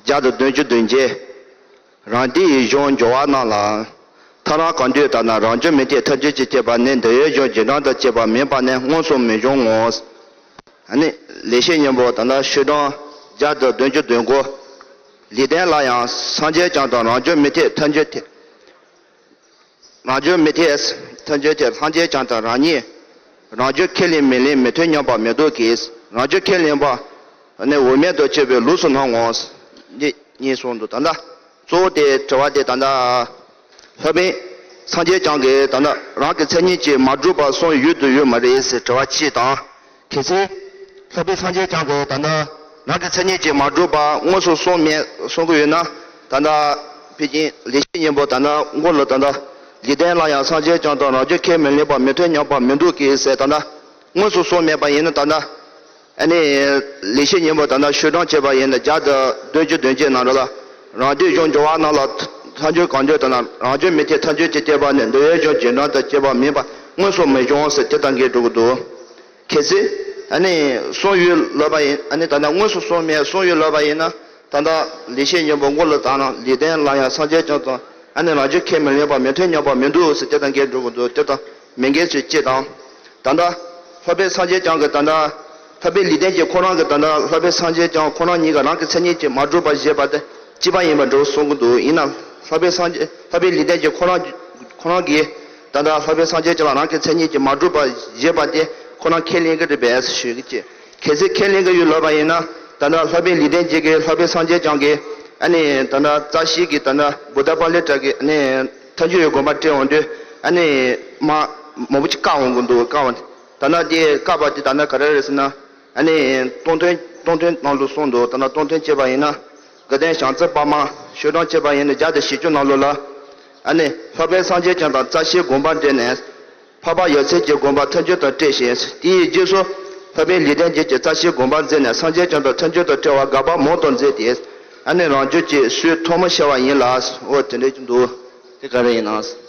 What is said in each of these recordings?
བརྒྱ་དང་བདུན་ཅུ་བདུན་བརྒྱའི་རང་འདི་ཡི་གཞུང་འབྱོར་བ་རྣམས་ལའང། ཐ་རང་གང་འདོད་ལྟར་ན་རང་བྱུང་མི་འཐད་ཐབས་ཇུས་ཀྱི་བསྐྱེད་པ་ནི་འདི་ཡོད་གཞུང་རྗེས་འབྲང་དང་བཅས་པ་མིན་པ་ནི་མངོན་སུམ་མི་འབྱུང་ངོ། ཨ་ནི། ལེགས་བཤད་སྙིང་པོ་དང་ན་ཤུལ་དྲང། བརྒྱ་དང་བདུན་ཅུ་བདུན་གོ། ལེགས་ལྡན་ལ་ཡང་སངས་རྒྱས་བསྐྱངས་དང་རང་བྱུང་མི་འཐད་ཐབས་ཇུས་འཐད། རང་བྱུང་མི་ཐེག་ཨེས་མཐུན་རྒྱུ་དེ་ལྷང་རྒྱས་ཀྱང་དང་རང་ཉིད་རང་རྒྱུད་ཁས་ལེན་མི་ལེན་མི་མཐུན་སྙམ་པ་མེད་དོ་གིས་རང་རྒྱུད་ཁས་ལེན་པ་ནི་འོས་མེད་དུ་སྐྱེ་བའི་ལུགས་སུ་སྣང་ངོ། འདི་གཉིས་གསུངས་འདུག་ད་ལྟ་གཙོ་བོ་དེ་དྲི་བ་དེ་ད་ལྟ་ལྷ་མིན་སངས་རྒྱས་བྱང་གིས་ད་ལྟ་རང་གི་མཚན་ཉིད་ཀྱིས་མ་གྲུབ་པར་གསུངས་ཡོད་དུ་ཡོད་མ་རེད་ཟེར་དྲི་བ་གཅིག་དང། གལ་ཆེ། ལྷག་པའི་སངས་རྒྱས་བསྐྱངས་པའི་ད་ལྟ། ནང་གི་མཚན་ཉིད་ཀྱིས་མ་གྲུབ་པ་དངོས་སུ་གསུངས་མེད་གསུང་གི་ཡོད་ན་ད་ལྟ། པེ་ཅིང་ལས་བྱེད་གཉེན་པོ་ད་ནང་མགོ་ལོག་ད་ལྟ། འཇིག་རྟེན་ལ་ཡང་སངས་རྒྱས་བསྐྱངས་དང་རང་རྒྱུད་ཁས་མི་ལེན་པ་མི་མཐུན་ཉམས་པ་མི་འདུག་གི་ཟེར་ད་ལྟ། དངོས་སུ་གསུངས་མེད་པ་ཡིན་ན་ད་ལྟ། ཨ་ནི། ལས་བྱེད་གཉེན་པོ་ད་ལྟ་བཤུས་གྲངས་བྱས་པ་ཡིན་ན་བརྒྱ་དང་བདུན་ཅུ་བདུན་བརྒྱའི་ནང་རོ་ལ། རང་སྡེ་གཞུང་འབྱོར་བ་རྣམས་ལ་མཐའ་འཇོན་གང་འཇོན་དང་ན་རང་འཇོན་མི་ཐེ་མཐའ་འཇོན་ཅེས་སྐྱེས་པ་ནི་འདོད་ཡོན་གཞུང་རྗེས་འབྲང་དང་སྐྱེས་པ་མིན་པ་སྔོན་སོང་མི་གཞུང་ཟེར་དེ་ལྟར་འགའི་སྒྲུག་གི་འདུག་གལ་ཚེ། ཨ་ནི། གསུང་ཡུལ་ལོས་པ་ཡིན་ཨ་ནི་ད་ནི་དངོས་སུ་གསུང་མེད་གསུང་ཡུལ་ལོས་པ་ཡིན་ན་ད་ལྟ་ལི་ཤས་སྙིང་པོ་མགོ་ལ་བཏགས་ན་ལི་ལྡན་ལ་ཡང་སངས་རྒྱས་བྱུང་སོང་ཨ་ནི་རང་ཆོས་ཁས་མི་ལེན་པ་མི་ཐོས་སྙམ་པ་མི་འདུག་ཟེར་དེ་ལྟར་འགའི་སྒྲུག་གི་འདུག་དེ་ལྟ་མི་འགལ་ཚུལ་གཅིག་དང། ད་ལྟ། ལྷོ་པའི་སངས་རྒྱས་བསྐྱངས་ཀྱི་ད་ལྟ། འཐབ་པའི་ལུས་རྟེན་གྱིས་ཁོང་རང་གི་དོན་དག་ལྷ་དཔལ་སངས་རྒྱས་ཀྱང་ཁོང་རང་ཉིད་ཀྱི་རང་གི་མཚན་ཉིད་ཀྱིས་མ་བསྒྲུབས་པར་བཞེད་པ་དེ་སྤྱི་པ་ཡིན་པར་འགྲོ་གསུང་གི་འདུག་ཡིན་ནམ། ལྷ་དཔལ་སངས་རྒྱས་འཐབ་པའི་ལུས་རྟེན་གྱིས་ཁོང་རང་ཁོང་རང་གི་དོན་དག་ལྷ་དཔལ་སངས་རྒྱས་ཀྱི་ལ་རང་གི་མཚན་ཉིད་ཀྱིས་མ་བསྒྲུབས་པར་བཞེད་པ་དེ་ཁོ་རང་ཁས་ལེན་གི་རེད་པས་ཞུས་ཀྱི་གལ་སྲིད་ཁས་ལེན་གི་ཡོད་ལོས་པ་ཡིན་ན་དོན་དག་ལྷ་དཔལ་ལུས་རྟེན་གྱིས་གིས་ལྷ་དཔལ་སངས་རྒྱས་ཀྱང་གིས་ཨ་ནི་དོན་དག་རྩ་ཤེས་ཀྱི་དོན་དག་བུ་ད་པར་ལས་གྲགས་ཀྱི་ཨ་ནི་མཐའ་འཇུག་ཡོད་དགོངས་པ་བཀྲལ་འོང་དུས་ཨ་ནི་མ་མོ་བུ་གཅིག་བཀག་འོང་གི་འདུག་བཀག་འོང་ད་ནག་དེ་བཀག་པ་དེ་ད་ནག་ག་རེ་རེད་ཟེར་ན། ཨ་ནི། སྟོང་ཐུན་སྟོང་ཐུན་གནང་ལུགས་གསུངས་འདུག་ད་ནག་སྟོང་ཐུན་བཅད་པ་ཡིན་ན། དགའ་ལྡན་ཞང་བརྩེགས་པདྨ་ཤོད་གྲངས་བཅད་པ་ཡིན་ན་བརྒྱ་དང་བཞི་བཅུ་གནང་ལུགས་ལ། ཨ་ནི། ལྷག་པའི་སངས་རྒྱས་བྱང་དང་རྩ་ཆེའི་དགོངས་པ་འགྲེལ་ནས། འཕགས་པ་ཡབ་སྲས་ཀྱི་དགོངས་པ་ཐལ་འགྱུར་དང་བཀྲལ་ཞིང་དེའི་རྗེས་སུ། ལྷག་པའི་ལི་ཐན་རྒྱལ་གྱི་རྩ་ཆེའི་དགོངས་པ་མཛད་ནས་སངས་རྒྱས་བྱང་དང་ཐལ་འགྱུར་དང་བཀྲལ་བ་དགག་པ་མང་དུ་མཛད་དེ། ཨ་ནི་རང་རྒྱུད་ཀྱི་སུའི་ཐོག་མ་ཤེས་བ་ཡིན་ལགས། འོ་དེ་འདྲ་གྱི་འདུག་དེ་ག་རེ་ཡིན་ནམ།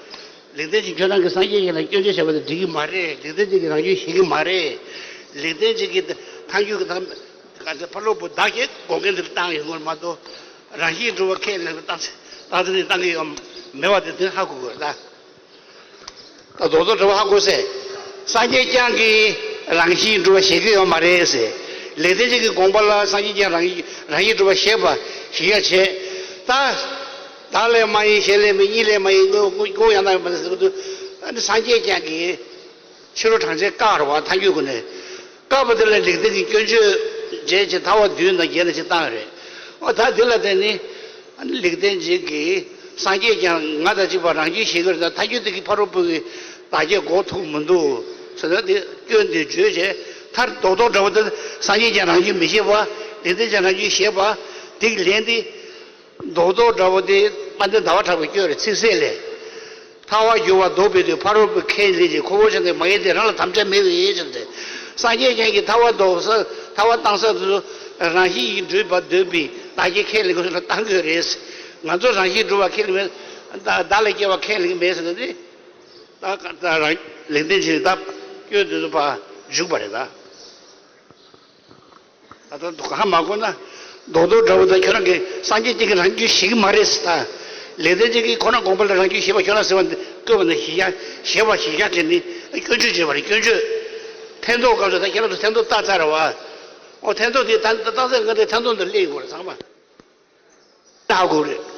ལེགས་ལྡན་གཅིག་ཁྱོད་རང་གི་སངས་རྒྱས་ཞིག་ལ་སྐྱོན་བརྗོད་བྱེད་པ་དེ་འགྲིག་གི་མ་རེད་ལེགས་ལྡན་གཅིག་གིས་རང་སྐྱོན་ཞིག་གི་མ་རེད། ལེགས་ལྡན་གཅིག་གིས་ཐང་ཆུ་གི་ཐང། གང་ཚེ་ཕ་ལུག་པོ་བདག་གིས་དགོང་སྐད་འདིར་བཏང་ཡོད་ངོར་མ་གཏོགས། རང་གཤིས་འགྲུབ་བར་ཁས་ལེན་པའི་སྟངས་སྟངས་འདི་གཏང་གི་ཡོད་མེད་པ་དེ་དོན་ཧ་གོ་དགོས་ལ། ད་རྡོག་རྡོག་བྲོ་བ་ཧ་གོ་སྲིད། སངས་རྒྱས་བསྐྱངས་ཀྱིས་རང་གཤིས་འགྲུབ་པ་ཤེས་ཀྱི་ཡོད་མ་རེད། ལེགས་ལྡན་གཅིག་གི་དགོངས་པ་ལ་སངས་རྒྱས་བསྐྱངས་རང་གཤིས་འགྲུབ་པ་ཤེས་ཀྱི་ཡོད་བྱས་ད། བདག་ལས་མ་ཡིན་གཞན་ལས་མིན་གཉིས་ལས་མ་ཡིན་དངོས་པོ་ཀུན་ཀུན་ཡང་དག་མིན་ཟེར་དུས། ཨ་ནི་སངས་རྒྱས་བཅས་ཀྱིས། ཕྱི་རོལ་གྲངས་ཅན་བཀའ་བར་བ་ཐ་འགྱུར་ཀུན་ནས། བཀག་པ་དེ་ལ་ལེགས་ལྡན་གྱི་སྐྱོན་བརྗོད། རྗེས་ཀྱི་མཐའ་བ་བདུན་དང་བརྒྱད་ལ་ཅིག་བཏང་བས་རེད། འོ་ད་དེ་ལ་བརྟེན་ནས། ཨ་ནི་ལེགས་ལྡན་འབྱེད་ཀྱིས་སངས་རྒྱས་ཀྱང་ང་དང་གཅིག་པ་རང་རྒྱུད་བཞེད་གི་རེད་ད་ཐ་འགྱུར་དེ་གིས་ཕ་རོལ་པོ་གི་བདག་རྒྱལ་འགོག་ཐུབ་མི་འདུག་ཟེར་ན་དེ་སྐྱོན་དེ་བརྗོད་བྱའི་མཐར་རྡོག་རྡོག་འདྲ་བོ་དེ་སངས་རྒྱས་ཀྱང་རང་རྒྱུད་མི་བཞེད་པ། ལེགས་ལྡན་ཀྱང་རང་རྒྱུད་བཞེད་པ། དེ་གིས་ལན་དེ། མདོག་མདོག་འདྲ་བོ་དེ། པ་འདི་ཟླ་བ་གྲགས་པའི་སྐྱོ་རེ་ཚིག་གསལ་ལས། ཐར་བར་འགྱུར་བ་མདོ་པའི་དུས་ཕ་རོལ་པོའི་ཁས་ལེན་གྱི་ཁོ་བོ་ཅན་དེ་མ་ཡིན་ཏེ་རང་ལ་དམ་བཅའ་མེད་པའི་ཕྱིར་ཏེ། སངས་རྒྱས་བྱིན་གྱིས་ཐར་བ་འདོགས་ས་ཐར་བ་གཏང་ས་དུ། རང་བཞིན་གྱིས་འགྲུས་པ་འདོད་པའི་བདག་གིས་ཁས་ལེན་དགོས་ན་གཏང་དགོས་རེད། ང་ཚོ་རང་བཞིན་འགྲུབ་བ་ཁས་ལེན་མེད། བདག་ལས་སྐྱེ་བ་ཁས་ལེན་མེད་ཟེར་ན་ནི། བདག་རང་ལེགས་ལྡན་བྱས་ནས་བདག་སྐྱོན་དེ་ཚོ་འཇུག་པ་རེད། ད་ལྟ་དོ་ཁ་མ་བསྐོན་ན་རྡོག་རྡོག་འདྲ་བོ་དང་ཁྱོད་རང་གི་སངས་རྒྱས་གཅིག་གི་རང་རྒྱུད་ཞིག་མ་རེད་ཟེར། ལེགས་ལྡན་གཅིག་གིས་ཁོ་རང་དགོངས་པ་ལ་རང་རྒྱུད་ཞེས་པ་ཁྱོད་རང་ཟེར་བ་འདི་བཀོད་པ་ན་ཞི་ཞྭ་ཞེས་པ་ཞི་ཞྭ་དེ་ནི་སྐྱོན་བརྗོད་བྱས་པ་རེད་སྐྱོན་བརྗོད། ཐེན་ཐོག་སྐབས་སུ་ད་ཁྱེད་རང་ཚོ་ཐེན་ཐོག་བཏགས་ཚར་རེད་བ། ཨོ་ཐེན་ཐོག་དེ་ད་བཏགས་ཚར་སྔོན་དེ་ཐེན་ཐོག་འདི་གླེང་དགོས་རེད་ཚང་མ་བལྟ་དགོས་རེད།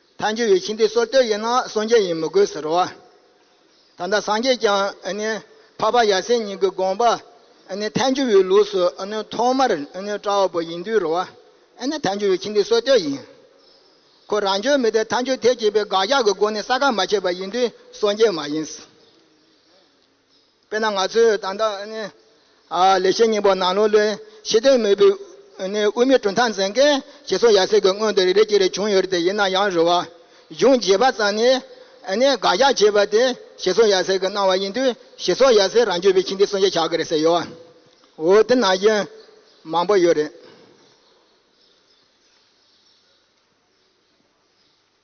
མཐའ་འཇུག་ཡོད་ཕྱིན་ཏེ་སོར་སྟོད་ཡིན་ན་སངས་རྒྱས་ཡིན་མི་དགོས་ཟེར་རོ། ད་ལྟ་སངས་རྒྱས་ཀྱང་འཕགས་པ་ཡབ་སྲས་གཉིས་ཀྱི་དགོངས་པ་མཐའ་འཇུག་ཡོད་ལུགས་སུ་ཐོག་མར་བཀྲ་བ་པོ་ཡིན་དུས་རོ། མཐའ་འཇུག་ཡོད་ཕྱིན་ཏེ་སོར་སྟོད་ཡིན། ཁོ་རང་ཆོས་མེད་དེ་མཐའ་འཇུག་ཐེག་བཅས་པའི་དགག་བཞག་གི་སྒོ་ནས་ས་ཁ་མ་ཕྱེ་བ་ཡིན་དུས་སངས་རྒྱས་མ་ཡིན། དཔེར་ན་ང་ཚོས་ད་ལྟ་ལེགས་བཤད་སྙིང་པོ་ནང་ལོ་ལོན་ཤེས་ལྡན་མི་བུ་དབུས་མའི་གྲུབ་མཐའ་འཛིན་མཁན་ཞེས་སོགས་ཡ་ཟེར་གྱི་སྔོན་དུ་རེ་རེ་ཅིག་རེ་བྱུང་ཡོད་དེ་ཡིན་ན་ཡང་རུ་བ་གཞུང་བརྗེས་པ་ཙམ་ནས་དགག་རྒྱག་བྱས་པ་དེ་ཞེས་སོགས་ཡ་ཟེར་གྱི་གནང་བ་ཡིན་དུས་ཞེས་སོགས་ཡ་ཟེར་རང་བརྗོད་པའི་ཕྱིན་ཏེ་གསུང་བཤད་བྱ་གི་རེད་ཟེར་ཡོད། འོ་དེ་ནང་བཞིན་མང་པོ་ཡོད་རེད།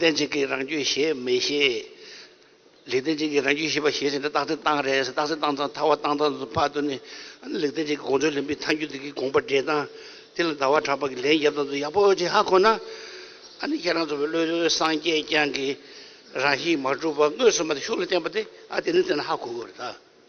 བདེན་གཅིག་གིས་རང་རྒྱུད་ཞེས་མི་ཤེས། ལེགས་བདེན་གཅིག་གིས་རང་རྒྱུད་ཤེས་པ་ཞེས་བྱ་འདི་རྟགས་ཚིག་སྟངས་རེད། རྟགས་ཚིག་སྟངས་དང་ཐར་བ་སྟངས་དང་དུ་འཕགས་དོན་ནི། ལེགས་བདེན་གཅིག་གི་དགོངས་དོན་ལེན་པའི་ཐ་སྙུད་དེ་གའི་དགོངས་པ་འགྲེལ་སྟངས། དེ་ལ་ཟླ་བ་གྲགས་པ་གིས་ལན་བརྒྱབ་སྟངས་དུ་ཡག་པོ་ཅི་ཧ་གོ་ན། ཨ་ནི་ཁྱེད་རང་ཚོ་བའི་བློའི་སངས་རྒྱས་བསྐྱངས་ཀྱིས་རང་བཞིན་མ་གྲུབ་པ་དངོས་སུ་མ་དེ་ཤུགས་ལ་བསྟན་པ་དེ་ཨ་དེ་ནི་དེ་ན་ཧ་གོ་དགོས་རེད་ད།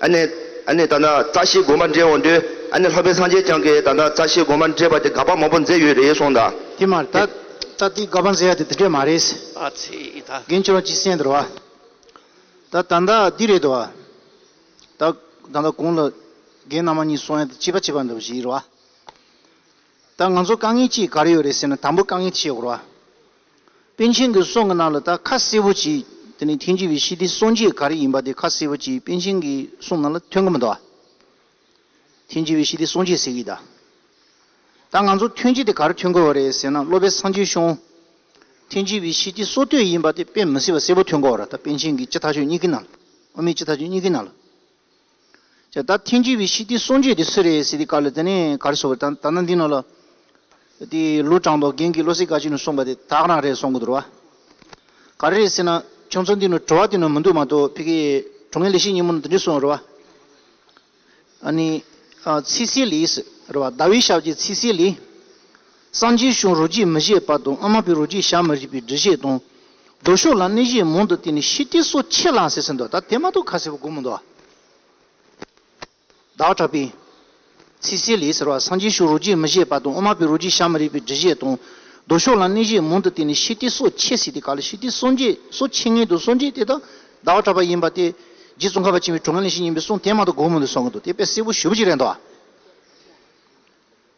ཨ་ནེ། ཨ་ནེ་ད་ནི་བཀྲ་ཤིས་དགོན་པར་འདྲེན་འོང་དུས་ཨ་ནེ་ལྷ་བྷེ་སངས་རྒྱས་ཀྱང་གིས་ད་ནི་བཀྲ་ཤིས་དགོན་པར་འདྲེས་པ་དེ་དགའ་པ་མང་པོ་མཛད་ཡོད་རེད་གསུངས་ད། དེ་མ་ད་ད་ལྟའི་དགའ་པ་མཛད་ཡ་དེ་དེ་འདྲས་མ་རེད། ཨ་ཚེ་ད། རྒན་བྱོ་བ་ཅི་སེམས་འདུར་བ། ད་ད་ད་འདི་རེད་དོ། ད་ད་ད་གོང་ལ་རྒན་ནང་མ་གཉིས་སོང་ཡ་དེ་སྐྱིད་པ་བྱེད་པར་འདུག་བཞིན་ཡིར་བ། ད་ང་ཚོ་དཀའ་ངལ་ཅིག་ག་རེ་ཡོད་རེད་ཟེར་ན་དང་པོ་དཀའ་ངལ་ཐི་ཤས་བོར་བ། པཎ་ཆེན་གྱི་གསུང་གི་ནང་ལ་ད་ཁ་གསལ་བོ་གྱིས་དེ་ནས་ཐེངས་གཅིག་པའི་ཤི་ཏིའི་སངས་རྒྱས་ག་རེ་ཡིན་པ་དེ་ཁ་གསལ་བོ་གྱིས་པཎ་ཆེན་གྱི་གསུང་ནང་ལ་ཐོན་གྱི་མི་འདུག་ཨ། ཐེངས་གཅིག་པའི་ཤི་ཏིའི་སངས་རྒྱས་ཟེར་གྱི་ཡིད་ད། ད་ང་ཚོ་ཐོན་རྗེས་དེ་ག་རེ་ཐོན་དགོས་བ་རེད་ཟེར་ན་སློབ་པའི་སངས་རྒྱས་ཤོང། ཐེངས་གཅིག་པའི་ཤི་ཏིའི་སྲོག་བསྟོད་ཡིན་པ་དེ་དཔེ་མི་སྲིད་པ་གསལ་བོ་ཐོན་དགོས་བ་རེད་ད་པཎ་ཆེན་གྱི་སྤྱི་ཐག་ཆོད་གཉིས་ཀྱི་ནང་ལ་ཨོ་མའི་སྤྱི་ཐག་ཆོད་གཉིས་ཀྱི་ནང་ལ། ཅེས་ད་ཐེངས་ཀྱི་བའི་ཤིས་ཏི་གསུང་ཆོས་དེ་སུ་རེད་ཟེར་དེ་ག་ལ་དེ་ནས་ག་རེ་སོགས་ད་ད་ནང་འདི་ནང་ལ་དེ་ལུས་དྲང་དོག་རྒན་གྱི་བློ་སེ་ག་ཅིག་ནས་གསུངས་པ་དེ་དག་རང་རེད་སོང་གི་འདུག་ག་རེ་རེད་ཟེར་ན་ཁྱོད་ཚོ་འདི་ནས་བྲོ་བ་དེ་ནང་མི་འདུག་མ་གཏོགས་ཕི་གི་གྲོ་ངན་ལས་ཤིག་ཉིན་མོ་ནང་དེ་འདྲས་གསུངས་རེད་བ། ཨ་ནི། ཚིས་སི་ལིས། རེད་བ་ཟླ་བའི་ཞབས་ཀྱི་ཚིས་སི་ལིས། སངས་རྒྱས་བྱུང་རོ་རྗེས་མི་བཞེས་པ་དང་ཨ་མ་པའི་རོ་རྗེས་ཞག་མི་རིག་པའི་འདྲི་བཞེས་དང། རྡོ་ཤོག་ལ་གནས་བཞེས་མང་དུ་བསྟེན་ནས་ཤི་སྟེ་སོ་ཕྱེད་ལངས་ཟེར་ཟིན་ཏོ་ད་དེ་མ་གཏོགས་ཁ་གསལ་བོ་གོ་མི་འདུག་ཨ། བདག་གྲགས་པས། ཚིག་གསལ་ལས་ཟེར་བ་སངས་རྒྱས་བྱུང་རོ་རྗེས་མི་བཞེས་པ་དང་ཨ་མ་པའི་རོ་རྗེས་ཞག་མི་རིག་པའི་འདྲི་བཞེས་དང། རྡོ་ཤོག་ལ་གནས་བཞེས་མང་དུ་བསྟེན་ནས་ཤི་སྟེ་སོ་ཕྱེད་ཟེར་ཏེ་ག་ལ་ཤི་སྟེ་སོ་མཇེད་སོ་ཕྱེད་ངན་དུ་སོ་མཇེད་དེ་དག་བདག་གྲགས་པ་ཡིན་པ་སྟེ། རྗེ་ཙོང་ཁ་པ་བྱིན་པའི་གྲོང་ཁྱེར་ནས་ཤི་ཡིན་པའི་གསུང་དེ་མ་གཏོགས་གོ་མི་འདུག་གསུང་གི་འདུག་དེ་དཔེ་གསལ་བོ་ཞུ་བ་ཅིག་རེད་འདོད།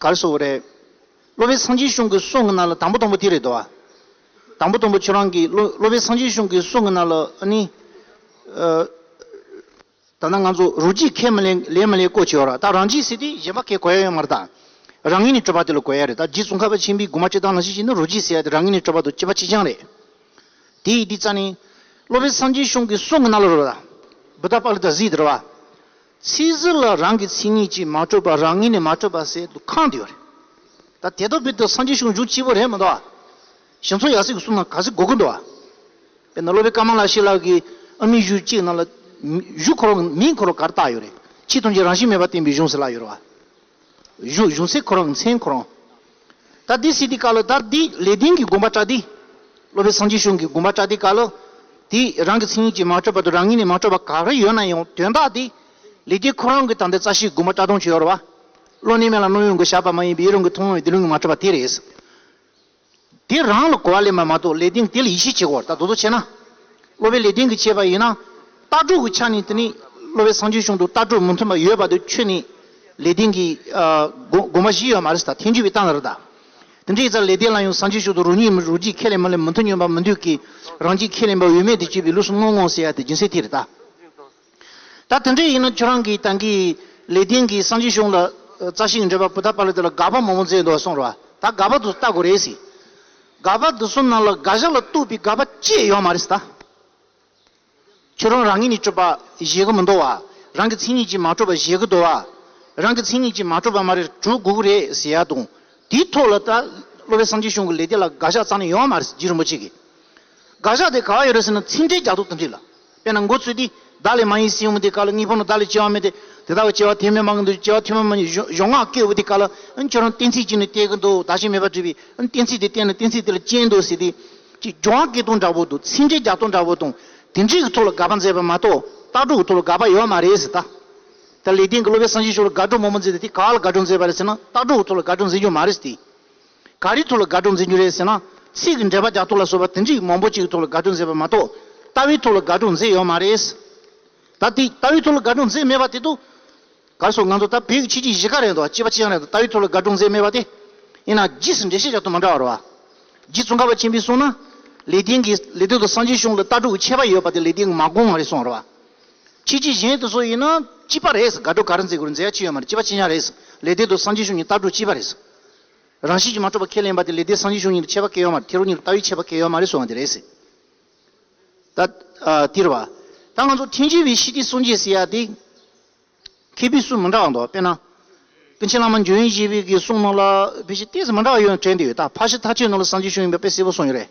གར་སོང་བ་རེད། གློ་བའི་སངས་རྒྱས་གཞུང་གི་སྲོག་ངན་ན་ལ་དང་པོ་དང་པོ་དེ་རེད་དོ། དང་པོ་དང་པོ་ཁྱོད་རང་གིས་གློ་གློ་བའི་སངས་རྒྱས་གཞུང་གི་སྲོག་ངན་ན་ལ་ཨ་ནི། ད་ནང་ང་ཚོ་རུ་གཅིག་ཁས་མི་ལེན་ལེན་མི་ལེན་བསྐོ་བྱས་ཡོད་ར་ད་རང་གཅིག་ཟེར་དུས་གཞན་པ་ཁས་གོ་ཡ་ཡོད་མ་རེད་ད། རང་ངེས་ནས་སྤྲོད་པ་དེ་ལ་གོ་ཡ་རེད་ད་རྗེ་ཙོང་ཁ་པ་ཆེན་པོའི་དགུ་མ་སྤྱི་དང་ལ་ཞིག་ཞིག་ནི་རུ་གཅིག་ཟེར་ཡ་དེ་རང་ངེས་ནས་སྤྲོད་པ་དང་སྤྱི་པ་གཅིག་རྐྱང་རེད། དེ་ཡིས་དེ་རྩ་ནས། གློ་བའི་སངས་རྒྱས་གཞུང་གི་སྲོག་ངན་ན་ལ་རོ་ད། བུ་ད་པག་ལི་ད་གཟིགས་དེ་ར་བ། ཚིག་ཟུར་ལ་རང་གི་མཚན་ཉིད་ཀྱིས་མ་སྤྲོས་པར་རང་ངོས་ནས་མ་སྤྲོས་པར་ཟེར་དུ་ཁག་འདི་ཡོད་རེད། ད་དེ་ལྟ་བུའི་དུས་སངས་རྒྱས་གཞུང་འཇུག་སྤྱི་བོ་རེད་མི་འདུག་ཨ། ཞིང་མཚོ་ཡར་སྲིད་ཀྱི་གསུང་ན་ག་ཟིག་གོ་གི་འདུག་ཨ། དཔེར་ན་སློབ་དཔོན་ཀརྨ་ལགས་ཤེས་ལགས་ཀྱིས་ཨ་མི་གཞུང་གཅིག་ནང་ལ། གཞུང་འཁོར་ལོ་མིང་འཁོར་ལོ་ག་རེ་བཏགས་ཡོད་རེད། ཕྱིས་ཐོན་རྗེས་རང་བཞིན་མེད་པར་བསྟན་པའི་གཞུང་ཟེར་ལགས་ཡོད་རེད་བ། གཞུག་གཞུང་སྲེག་ཁོ་རང་མཚན་ཁོ་རང། ད་འདི་སྲིད་དེ་ཀ་ལོ་དར་འདི་ལས་ལྡན་གྱི་དགོངས་པ་བཀྲ་འདི། སློབ་པའི་སངས་རྒྱས་གཞུང་གི་དགོངས་པ་བཀྲ་འདི་ཀ་ལོ། དེ་རང་གི་མཚན་ཉིད་ཀྱིས་མ་སྤྲོས་པ་དུ་རང་ཉིད་ནས་མ་སྤྲོས་པ་ག་རེ་ཡོད་ན་ཡང་དོན་དག་འདི་ལས་ལྡན་ཁོ་རང་གི་ད་འདི་རྩ་ཤེའི་དགོངས་པ་བཀྲ་དོན་ཆེའོ་ར་བ། བློ་གནས་མེད་ལ་རྣོ་ཡོང་གི་བྱ་བ་མ་ཡིན་པའི་ཡེ་རང་གི་ཐུགས་དབང་བས་འདི་ལུང་གིས་མ་སྤྲོས་པ་དེ་རེད། དེ་རང་ལ་གོ་བ་ལས་མ་མ་གཏོགས་ལས་དེང་དེ་ལ་ཡིད་ཆེས་བྱེད་དགོས་བར་ད་དོ་དོ་བྱེད་ན། སློབ་པའི་ལས་དེང་གི་བྱེད་པ་ཡིན་ན། ལྟ་གྲུབ་ཀྱི་ཆ་ནས་དེ་ནི་སློབ་པའི་སངས་རྒྱས་གཞུང་དུ་ལྟ་གྲུབ་མི་མཐུན་པ་ཡོད་པ་དེ་ཁྱོད་ནི། ལས་དེང་གི། དགོངས་པ་བཞི་ཡོད་མ་རེད་ད་ཐེངས་བརྒྱུད་པའི་གཏམ་ལ་རེད་ད། དེ་འདྲའི་ཡིད་ཚ་ལས་དེང་ལ་ཡང་སངས་རྒྱས་གཞུང་དུ་རང་ཉིད་རང་གཅིག་ཁས་ལེན་མ་ལེན་མི་མཐུན་སྙོམས་པ་མི་འདོད་ཀི། རང་གཅིག་ཁས་ལེན་པ་འོས་མེད་དུ་སྤྱོད་པའི་ལུགས་སུ་དངོས་དངོས་ཟེར་ཡ་དེ་སྦྱིན་སྲེག་དེ་རེད་ད། ད་དེ་འདྲས་ཡིན་ན་ཁྱོད་རང་གིས་ད་གིས་ལེ་ཏིང་གིས་སངས་རྒྱས་གཞུང་ལ་རྩ་ཤིང་འདྲེས་པ་པུ་ཐ་པ་ལི་ཏི་ལ་དགག་པ་མང་པོ་མཛད་འདུག་གསུངས་རོགས་ད་དགག་པ་དུ་ལྟ་དགོས་རེད་ཟེར། དགག་པ་དུ་གསུམ་ནང་ལ་དགག་བཞག་ལ་གཏུགས་པའི་དགག་པ་གཅིག་ཡོད་མ་རེད་ཟེར། ཁྱོད་རང་རང་ཉིད་ནས་སྤྲོས་པ་གཞལ་གྱི་མི་འདུག་བ། རང་གི་མཚན་ཉིད་ཀྱིས་མ་སྤྲོས་པ་གཞལ་གྱི་འདུག་བ། རང་གི་མཚན་ཉིད་ཀྱིས་མ་སྤྲོས་པ་མ་རེད་གྲོལ་དགོས་ཀྱི་རེད་ཟེར་ཡ་དང། དེའི་ཐོག་ལ་ད་གློ་བའི་སངས་རྒྱས་གཞུང་གི་ལེ་ཏི་ལ་དགག་བཞག་རྩ་ནས་ཡོད་མ་རེད་ཟེར་རྗེ་རིན་པོ་ཆེ་གིས། དགག་བཞག་དེ་ག་བ་ཡོད་རེད་ཟེར་ན་ཚིག་འགྲེལ་རྒྱག་ཐུབ་ཐུབ་རེད་ལ། དཔེར་ན་འགོ་ཚུལ་དེས་བདག་ལས་མ་ཡིན་སྲིད་འོང་བ་དེའི་བཀའ་ལ་གཉིས་ཕོག་ན་བདག་ལས་སྐྱེ་བ་མེད་དེ། དེ་དག་གི་སྐྱེ་བ་ཐེག་དམན་མ་གི་འདུག་སྐྱེ་བ་ཐེག་དམན་མ་ནི་གཞོགས་སྔགས་སྐྱེས་བུ་དེའི་བཀའ་ལ། ཁྱོད་རང་གཏན་ཚིགས་གཅིག་ནི་གཏད་ཀྱི་འདུག་བདག་གཞན་མེད་པར་བྲིས་པས། གཏན་ཚིགས་དེ་གཏད་ན་གཏན་ཚིགས་དེ་ལ་སྐྱེ་འདུག་ཟེར་ཏེ། ཅེས་སྦྱོར་བ་སྐད་སྟོང་འདྲ་པོ་དང་ཚིག་འགྲེལ་བརྒྱ་སྟོང་འདྲ་པོ་དང། དེ་འདྲིས་ཀྱི་ཐོག་ལ་དགག་པ་མཛད་པ་མ་གཏོགས་ལྟ་གྲུབ་ཀྱི་ཐོག་ལ་དགག་པ་ཡོད་པ་མ་རེད་ཟེར། ད་ལེགས་ལྡན་གྱི་སློབ་པའི་སངས་རྒྱས་ཆོས་ལ་དགག་སྒྲུབ་མང་པོ་མཛད་དེ་དེ་ག་ལ་དགག་སྒྲུབ་མཛད་པ་རེད་ཟེར་ན་ལྟ་གྲུབ་ཀྱི་ཐོག་ལ་དགག་སྒྲུབ་མཛད་རྒྱུ་མ་རེད་ཟེར་ཏེ། ག་རེའི་ཐོག་ལ་དགའ་སྤྲོ་འཛིན་རྒྱུ་རེད་ཟེར་ན། ཚིག་གི་འགྲེལ་པ་རྒྱག་ཐོག་ལ་བཟོ་པ་དེ་འདྲིས་མང་པོ་གཅིག་གི་ཐོག་ལ་དགའ་སྤྲོ་མཛད་པ་མ་གཏོགས། ལྟ་བའི་ཐོག་ལ་དགའ་སྤྲོ་མཛད་ཡོད་མ་རེད། ད་དེ་ལྟ་བའི་ཐོག་ལ་དགའ་སྤྲོ་མཛད་མེད་པ་དེ་དུ། གར་སོང་ང་ཚོ་ད་བོད་ཀྱི་ཕྱི་རྒྱལ་གཞིས་ཀ་རེད་དོ་སྐྱིད་པ་ཅི་ཡང་རེད་དོ་ལྟ་བའི་ཐོག་ལ་དགའ་སྤྲོ་མཛད་མེད་པ་དེ། ཡིན་ན་རྗེས་སུ་འགྲེལ་བཤད་བྱ་ཐོག་མ་འདྲ་བ་རེད། རྗེ་ཙོང་ཁ་པ་ཆེན་པོས་གསུངས་ན། ལེགས་ལྡན་གྱི་ལེགས་ལྡན་དུ་སངས་རྒྱས་གཞུང་ལ་ལྟ་གྲུབ་ཀྱི་ཁྱད་པར་ཡོད་པ་དེ་ལེགས་ལྡན་གྱི་མ་དགོངས་མ་རེད་གསུངས་རེད། ཕྱི་རྒྱལ་གཞན་དུ་སོགས་ཡིན་ན་སྐྱིད་པ་རེད་དགའ་སྤྲོ་ག་རེ་མཛད་དགོས་རེད་མཛད་ཡ་ཅི་ཡོད་མ་རེད་སྐྱིད་པ་ཅི་ཡང་རེད། ལེགས་ལྡན་དུ་སངས་རྒྱས་གཞུང་གི་ལྟ་གྲུབ་སྐྱིད་པ་རེད། རང་བཞིན་གྱིས་མ་གྲུབ་པར་ཁས་ལེན་པ་དེ་ལས་དེའི་སངས་རྒྱས་གཞུང་ཉིད་དུ་འཆད་པ་སྐལ་ཡོད་མ་རེད་དེ་རོ་ཉིད་དུ་ལྟ་བས་འཆད་པ་སྐལ་ཡོད་མ་རེད་གསུངས་བ་འདི་རེད། ད་ལྟིར་བ། ད་ང་ཚོ་ཐེངས་བཞི་བའི་ཤྲཱི་ཏི་སུང་ཅེས་ཟེར་ཡ་དེ། མཁས་པའི་གསུང་མི་འདྲ་བ་འདུག་དཔེར་ན། ཀུན་མཁྱེན་བླ་མ་འཇོན་ཡེ་ཤེས་པའི་གསུང་རྣམས་ལ་དཔེ་ཆའི་གཏད་ཚིག་མི་འདྲ་བ་ཡོད་ནོ་དྲན་བསྡད་ཡོད་ད་ཕག་ཤི་ཐ་ཆད་ནོར་ལ་སངས་རྒྱས་གཞུང་ཡིན་པའི་དཔེ་གསལ་པོ་གསུངས་ཡོད་རེད།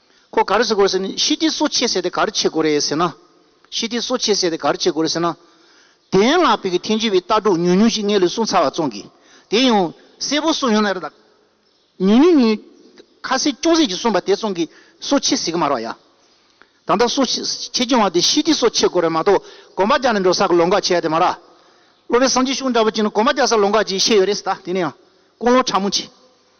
ཁོ་ག་རེ་བྱེད་དགོས་རེད་ཟེར་ནས་ཤི་ཏི་སོ་ཆེ་ཟེར་དེ་ག་རེ་བྱེད་དགོས་རེད་ཟེར་ན། ཤི་ཏི་སོ་ཆེ་ཟེར་དེ་ག་རེ་བྱེད་དགོས་རེད་ཟེར་ན། དེའི་ངང་བོད་ཀྱི་ཐེན་ཅུན་བའི་ལྟ་གྲུབ་ཉུང་ཉུང་ཞིག་ངས་ལུས་ཟུངས་ཚར་བ་བཙོང་གིས་དེ་ཡང་གསལ་པོ་གསུངས་ཡོང་ན་རེད་ད། ཉུང་ཉུང་ཉུང་ཉུང། ཁ་གསལ་ཅུང་ཟད་ཅིག་གསུངས་པ་དེ་བཙོང་གིས་སོ་ཆེ་ཟེར་གི་མ་རེད་བ་ཡ། ད་ལྟ་སོ་ཆེ་སྐྱོན་བ་དེ་ཤི་ཏི་སོ་ཆེ་དགོས་རེད་མ་གཏོགས་གོམ་པ་རྒྱག་ནས་འགྲོ་ས་གི་ལོ་འགའ་བྱས་ཡ་དེ་མ་རེད། སློབ་པའི་སངས་རྒྱས་གཞུང་འདྲ་པོ་ཅིག་ནང་གོམ་པ་རྒྱག་ས་ལོ་འགའ་ཅིག་བཤད་ཡོད་རེད་ཟེར་ད་དེ་ནི་ཡང་དཀོན་ལོ་ཕྲ་མོ་ཅིག།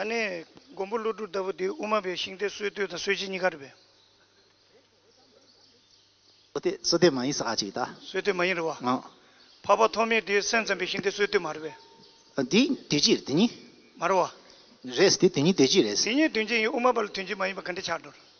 ཨ་ནེ། མགོན་པོ་ཀླུ་སྒྲུབ་ལྟ་བུ་འདི་དབུ་མ་པའི་ཤིང་རྟའི་སྲོལ་གཏོད་དང་སྲོལ་འབྱེད་གཉིས་ཀ་རེད་པས། སྲོལ་གཏོད་མ་ཡིན་ས་ཁ་ཅིག་ད། སྲོལ་གཏོད་མ་ཡིན་རེད་བ། ཨང། འཕགས་པ་ཐོགས་མེད་དེའི་སེམས་ཙམ་པའི་ཤིང་རྟའི་སྲོལ་གཏོད་མ་རེད་པས། འདི་དུས་གཅིག་དེ་གཉིས། མ་རེད་བ། རེད། དེ་དུས་གཉིས་དུས་གཅིག་རེད། དེ་གཉིས་དུས་གཅིག་ཡིན་དབུ་མ་པ་ལ་དུས་གཅིག་མ་ཡིན་པ་ག་འདྲས་ཆགས་འགྲོ་རེད།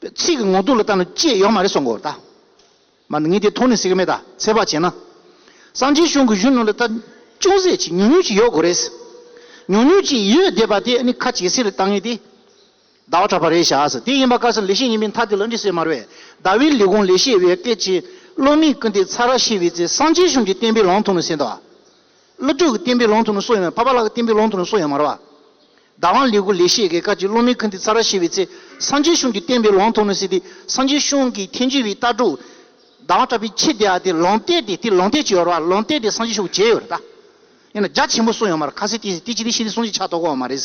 པའི་ཚིག་གི་ངོ་ཐུག་ལ་བལྟ་ན་ཅི་ཡོད་མ་རེད་སོགས་མགོ་བར་བལྟ། མ་ནི་ངས་དེ་མཐོང་ནས་སྲིད་ཀ་མེད་ད་ཚད་བག་བྱས་ན། སངས་རྒྱས་གཞུང་གི་གཞོན་ནུ་ལ་ད་ཅུང་ཟད་ཅིག་ཉུང་ཉུང་ཅིག་ཡོད་དགོས་རེད། ཉུང་ཉུང་ཅིག་ཡོད་བསྡད་པ་དེ་ནི་ཁ་ཇེ་སེར་རེ་བཏང་ངེས་ཏེ། ཟླ་བ་གྲགས་པ་རེད་བྱ་ཟེར་དེ་ཡིན་པ་དཀར་སེར་ལེགས་བཤད་ཡིན་པའི་མཐའ་དེ་ལ་འདྲི་སེ་མར་བས་ཟླ་བའི་ལས་གོང་ལས་བཤད་བའི་སྐད་ཀྱིས་བློ་མིག་ཀུན་ཏེ་ཚ་ར་ཤི་བའི་ཚེ་སངས་རྒྱས་གཞུང་གི་བསྟན་པའི་ལང་ཐུང་ནས་སེ་འདའ། བློ་གྲོས་ཀྱི་བསྟན་པའི་ལུང་དུ་ནི་སྲོག་ཡོད་མ་རེད་ཕ་པ་ལགས་ཀྱི་བསྟན་པའི་ལུང་དུ་ནི་སྲོག་ཡོད་མ་རེད་བ། བདག་དབང་ལེགས་དགོས་ལེགས་ཤེས་དགོས་ཁ་ཅིག་བློ་མིག་ཁུ་འདི་ཚ་ར་ཤེས་པའི་ཚེ་སངས་རྒྱས་གཞུང་གི་བསྟན་པའི་ལུང་དུ་ནི་སྲིད་དེ་སངས་རྒྱས་གཞུང་གི་མཁྱེན་གྱུར་བའི་རྟགས་དྲུག། བདག་དབང་སྤྲ་པའི་ཁྱི་དེ་ཡ་དེ་ལུང་བསྟན་དེ་དེ་ལུང་བསྟན་གྱི་ཡོད་རེད་བ་ལུང་བསྟན་དེ་སངས་རྒྱས་གཞུང་གྱི་ཡོད་རེད་ད། ཡིན་ན་རྒྱ་ཆེན་པོ་སྲོག་ཡོད་མ་རེད་ཁ་ཟས་དེ་ཟས་དེ་ཅི་དེ་ཤི་དེ་སོང་ཅིག་ཆགས་ཐོག་གོ་བ་མ་རེད།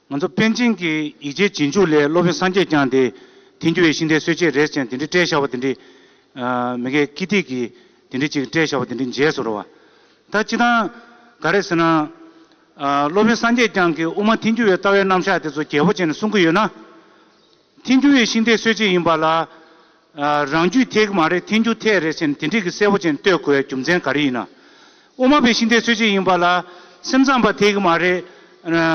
ང་ཚོ་པཎ་ཆེན་གྱི་ཡིག་ཆའི་རྗེས་འཇུག་ལས་སློབ་དཔོན་སངས་རྒྱས་བསྐྱངས་ཏེ། དེང་རྒྱུ་བའི་ཤིང་རྟའི་སྲོལ་འབྱེད་རེས་ཅན་དེ་འདྲི་སྤྲད་བཞག་པ་དེ་འདྲི། མི་དགའི་ཀི་ཏིག་གིས་དེ་འདྲི་ཅིག་སྤྲད་བཞག་པ་དེ་འདྲི་མཇལ་སོ་རུ་བ། ད་སྤྱི་དང། ག་རེ་ཟེར་ན། སློབ་དཔོན་སངས་རྒྱས་བསྐྱངས་ཀྱིས་དབུ་མ་དེང་རྒྱུ་བའི་ལྟ་བའི་རྣམ་གཞག་དེ་ཚོ་རྒྱལ་པོ་ཅན་ལ་གསུང་གི་ཡོད་ན། ཐེན་ཅུ་ཡི་ཤིང་རྟའི་སྲོལ་འབྱེད་ཡིན་པ་ལ། རང་རྒྱུད་ཐེག་མ་རེད་ཐེན་ཅུ་ཐེག་རེད་ཟེར་ནས་དེ་འགྲིག་གི་གསལ་པོ་ཅན་གཏོད་དགོས་པའི་རྒྱུ་མཚན་ག་རེ་ཡིན་ན། དབུ་མ་པའི་ཤིང་རྟའི་སྲོལ་འབྱེད་ཡིན་པ་ལ། སེམས་ཙམ་པ་ཐེག་མ་རེད།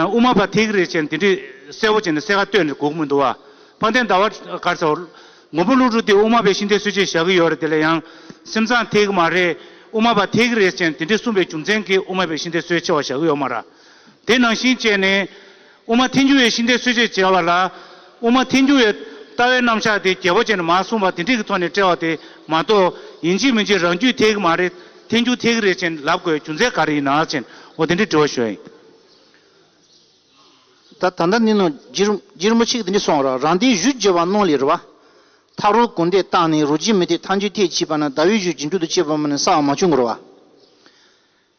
དབུ་མ་པ་ཐེག་རེད་ཟེར་ནས་དེ་འགྲིག་གསལ་པོ་ཅན་གསལ་ཁ་གཏོད་ནས་སྒུག་མི་འདུག་བ། དཔལ་ལྡན་ཟླ་བ་དཀར་ཚེ། མགོན་པོ་ཀླུ་སྒྲུབ་འདིས་དབུ་མ་པའི་ཤིང་རྟའི་སྲོལ་འབྱེད་བཞག་གི་ཡོད་རེད་དེ་ལ་ཡང། སེམས་ཙམ་ཐེག་མ་རེད། དབུ་མ་པ་ཐེག་རེད་ཟེར་ནས་དེ་འགྲིག་གསུངས་པའི་རྒྱུ་མཚན་གྱིས་དབུ་མ་པའི་ཤིང་རྟའི་སྲོལ་ཕྱེ་བ་བཞག་གི་ཡོད་མ་ར། དེ་ནང་བཞིན་བྱས་ནས། དབུ་མ་ཐལ་འགྱུར་བའི་ཤིང་རྟའི་སྲོལ་འབྱེད་ཅེས་པ་ལ། དབུ་མ་ཐལ་འགྱུར་བའི་ལྟ་བའི་རྣམ་གཞག་དེ་རྒྱལ་པོ་ཅན་མ་གསུངས་པར་དེ་འགྲིག་གི་ཐོག་ནས་བཀྲལ་བ་དེ་མ་གཏོགས་ཡིན་གཅིག་མིན་གཅིག་རང་རྒྱུད་ཐལ་གི་མ་རེད་ཐལ་འགྱུར་ཐལ་གི་རེད་ཅེས་ལབ་དགོས་རྒྱུ་མཚན་ག་རེ་ཡིན་ནག་ཅེས་འོ་དེ་འདྲའི་དྲི་བ་ཞུ་ཡིན། ད་ད་ནི་ནོ། སྒྱིར་མོ་ཆིག་དེ་འདྲས་སོང་རོགས་རང་དེའི་གཞུ་བརྗེ་བ་རྣོ་ལེ་རུ་བ། ཐག་རོ་གུང་དེ་བཏགས་ནས་རུ་བརྗེ་མི་ཐེག་ཐག་འཇུ་ཐེག་བྱིས་པ་ན་ཟླ་བའི་གཞུ་སྒྱིན་དྲུག་ཏུ་བཅད་པ་མ་ནི་སྲ་བ་མ་བྱུང་གི་རུ་བ།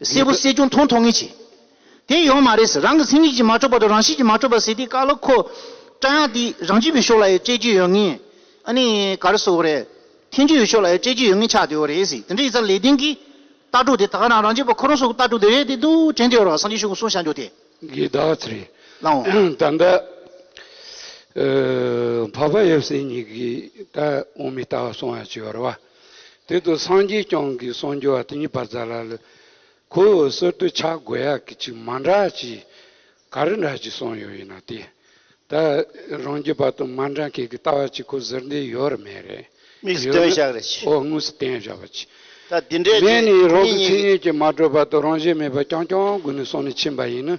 གསལ་པོ་གསལ་ཀྱང་མཐོང་ཐོག་ངེས་བྱེད་དེ་ཡོང་མ་རེད་ཟེར་རང་གི་མཚན་ཉིད་ཀྱིས་མ་འཕྲོག་པ་དང་རང་བཞིན་གྱིས་མ་འཕྲོག་པ་ཟེར་དེའི་བཀའ་སློབ་ཁོ་བཀྲ་ཡང་དེ་རང་རྒྱུད་པའི་ཕྱོགས་ལ་ཡོད་སྤྱད་ཀྱི་ཡོད་ངེས་ཨ་ནི་ག་རེ་སོགས་རེད་ཐན་རྒྱུད་ཡོད་ཕྱོགས་ལ་ཡོད་སྤྱད་ཀྱི་ཡོད་ངེས་ཆགས་དེ་འོ་རེད་ཟེར་དེ་འདྲ་ཡིག་ཚགས་ལས་སྟེང་གི་ལྟ་གྲུབ་དེ་དག་རང་རང་རྒྱུད་པ་ཁོ་རང་སོགས་ཀྱི་ལྟ་གྲུབ་དེ་རེད་དེ་འདུག་དྲན་དེ་འོ་རང་སངས་རྒྱས་ཆོས་ཀུན་གསུང་བྱང་རྒྱུད་དེ། གི་གདགས་ཚུལ་རེད། ལའང། ད་ལྟ་ཕ་བ་ཡབ་སྲས་གཉིས་ཀྱིས་ད་འོང་མི་ལྟ་བ་སོང་ཡང་བྱི་བར་བ། དེ་དུས་སངས་རྒྱས་སྐྱོང་གི་གསུང་རྒྱུ་བ་དེ་ཉིད་བར་ཛཱ་ལ་ལ་ཁོ་བོས་གསོལ་བསྟོད་ཕྱག་དགོས་ཡག་གི་ཅིག་མ་འདྲ་ཅིག་ག་རེ་འདྲ་ཅིག་གསུང་ཡོད་ཡིན་ན་དེ་ད་རང་རྒྱུད་བར་དུ་མ་འདྲ་མཁན་གྱི་ལྟ་བ་ཅིག་ཁོ་ཟེར་འདི་ཡོད་རེད་མེད་རེད་དམིགས་སུ་ཡོད་ན་དོན་བཞག་རེ་ཅིག། ཨོ་དངོས་སུ་དོན་བཞག་པ་ཅིག། ད་འདི་འདྲས་ཅིག་མེད་ནས་རང་གི་ངེད་མཚན་གཉིས་ཉིད་ཀྱིས་མ་གྲོལ་བར་དུ་རང་བཞིན་མེད་པར་རྐྱང་རྐྱང་དགོས་ནས་སོང་ནས་ཕྱིན་པ་ཡིན་ན་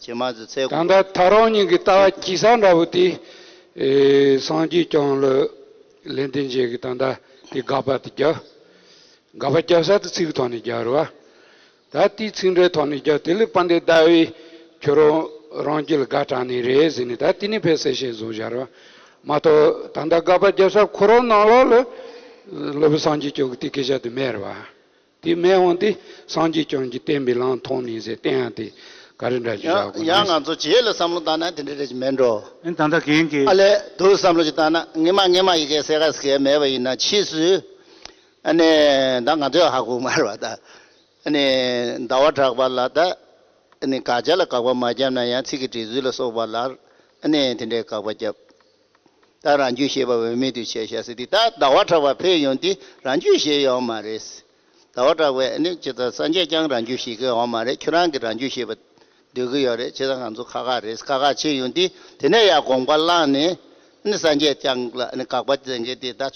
བྱེ་མ་ཟི་ཚེ་ད་ལྟ་དགུ། ད་རང་ཉིད་ཀྱི་ལྟ་བ་སྐྱིད་ས་འདྲ་བོ་དེ། སངས་རྒྱས་ཀྱང་ལོལེ་འདི་མཇལ་གི་ད་ལྟ་དེ་དགག་པ་དེ་རྒྱབ། དགག་པ་རྒྱབ་ས་དེ་ཚིག་གི་ཐོག་ནས་རྒྱབ་རེད་བ། ད་དེ་ཚིག་འདྲའི་ཐོག་ནས་རྒྱབ་དེ་ལས་པ་འདི་ལྟ་བས་ཁྱོད་རང་རང་སྐྱིད་ལ་དགའ་དྲགས་ནི་རེད་ཟེར་ནས་ད་དེ་ནས་ཕལ་སེ་ཤེས་བཟོ་བཞག་རེད་བ། མ་གཏོགས་ད་ལྟ་དགག་པ་རྒྱབ་ས་ཁོ་རང་ནང་ལོགས་ལོལེ་པ་སངས་རྒྱས་ཀྱང་དེ་སྐད་ཆ་དེ་སྨྲས་རེད་བ། དེས་མས་འོངས་ཏེ་སངས་རྒྱས་བྱོན་གྱིས་བསྟན་པའི་ལམ་མཐོང་མིན་ཟེར་བསྟན་ཡང་དེ་ག་རེ་འདྲ་ཞིག་བཞག་ཡང་ང་ཚོ་བྱེད་ལ་བསམ་བློ་བཏང་ན་དེ་འདྲ་རེ་ཞིག་མེད་འགྲོ། ཨེ་ད་ལྟ་གན་གི། ཨ་ལས་དུ་བསམ་བློ་ཞིག་བཏང་ན་ངེད་མ་ངེད་མ་ཡི་གེ་སེ་ག་སེ་ག་མེད་པ་ཡིན་ན་ཕྱིས་སུ་ཨ་ནི་ད་ང་ཚོའི་ཧ་གོ་མར་བ་ད་ཨ་ནི་ཟླ་བ་གྲགས་པ་ལ་ད་ཨ་ནི་དགག་བྱ་ལ་དགག་པ་མ་བརྒྱབ་ན་ཡང་ཚིག་གི་འབྲི་ཚུལ་ལ་སོགས་པ་ལར་ཨ་ནི་དེ་འདྲའི་དགག་པ་བརྒྱབ། ད་རང་རྒྱུད་ཤེས་པ་འོས་མེད་དུ་བྱས་ཤག་སེ་དེ་ད་ཟླ་བ་གྲགས་པ་ཕེབས་ཡོང་དུས་རང་རྒྱུད་ཤེས་ཡོང་མ་རེད། ཟླ་བ་གྲགས་པས་ཨ་ནུ་ཁྱེད་དང་སངས་རྒྱས་ཀྱང་རང་རྒྱུད་ཤེས་ཀྱི་ཡོང་མ་རེད་ཁྱོད་རང་གིས་རང་རྒྱུད་ཤེས་པ་འདོད་ཀྱི་ཡོད་རེད་བྱས་ཙང་ང་ཚོ་ཁག་ཁག་རེད་ཁག་ཁག་བྱས་ཡོང་དུས་དེ་ནས་ཡང་དགོངས་པ་བླངས་ནས་ཨ་ནུ་སངས་རྒྱས་ཀྱང་ལ་ཨ་ནུ་དགག་པ་བཙན་གྱི་དེ་ད།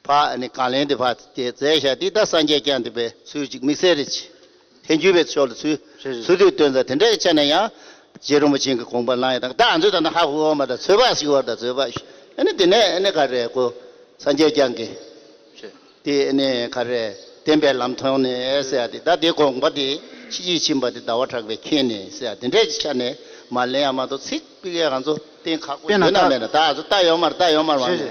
བ་ནི་གང་ལས་འདི་བ་སྟེ་རྫས་ཞག་འདི་དག་སངས་རྒྱས་ཀྱང་འདུས་པའི་ཚུལ་གཅིག་དམིགས་བསལ་རེ་ཆེ་དེ་བརྒྱུད་པའི་ཆོ་ལོ་ཚུལ་ཚུལ་དུ་སྟོན་ཙང་དེ་འདྲའི་ཆ་ནས་ཡང་རྗེ་རིན་པོ་ཆེན་གྱི་དགོངས་པ་སྣང་ཡང་དང་དག་མཛོད་དང་ན་ཧ་ཧུ་འོག་མ་དང་ཚོད་དཔག་ཞིག་བར་དང་ཚོད་དཔག་ཞིག་ནི་དེ་ནས་ནི་ག་རེ་གོ་སངས་རྒྱས་ཀྱང་གི་དེ་ནི་ག་རེ་བསྟན་པའི་ལམ་ཐོང་ནི་སེ་ཡ་དེ་དག་དེའི་དགོངས་པ་དེ་ཕྱི་རྒྱུད་ཕྱིན་པ་དེ་ཟླ་བ་གྲགས་པའི་མཁྱེན་ནི་སེ་ཡ་དེ་འདྲའི་ཆ་ནས་མ་ལེན་ཡང་མ་གཏོགས་ཚིག་དཔེ་གང་རྫོགས་བསྟན་ཁག་པོ་བརྗོད་ན་མེད་ན་དག་རྫོགས་རྟགས་ཡོད་མར་རྟགས་ཡོད་མར་བ་ནི།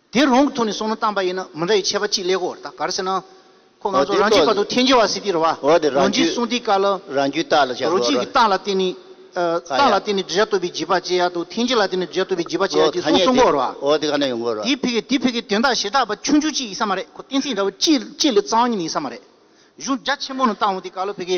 དེ་རང་གི་ཐོག་ནས་སོང་ན་གཏམ་པ་ཡིན་ན་མི་འདྲ་བའི་ཆད་པ་གཅིག་ལེགས་བོར་ད་གར་ཟེར་ན། ཁོ་ང་ཚོ་རང་གཅིག་པ་དུ་ཐེན་ཇི་བ་སི་ཏི་རུ་བ། ལོ་འཇིག་གསུང་ཏི་ཀ་ལ། རང་རྒྱུད་རྟགས་ལ་བྱ་རོ། རོ་གཅིག་གི་རྟགས་ལ་བརྟེན་ནས། རྟགས་ལ་བརྟེན་ནས་བསྒྲུབ་བྱ་བཏོད་པའི་བརྗིད་པ་བཅད་ཡ་དུ་ཐེན་ཇི་ལ་བརྟེན་ནས་བསྒྲུབ་བྱ་བཏོད་པའི་བརྗིད་པ་བཅད་ཡ་ཅེས་གསུངས་སོང་གོ་རུ་བ། དེ་ཕི་གེ་དེ་ཕི་གེ་དོན་དག་ཞེ་དྲག་པ་ཆུང་ཆུང་གཅིག་ཡིན་ས་མ་རེད་ཁོ་གཏན་ཚིགས་འདྲ་བོ་གཅིག་ལས་གཙང་ཉིད་ཡིན་ས་མ་རེད་གཞུང་རྒྱ་ཆེན་མོ་ནང་ཏང་ཧོ་ཏི་ཀ་ལོ་ཕི་གེ་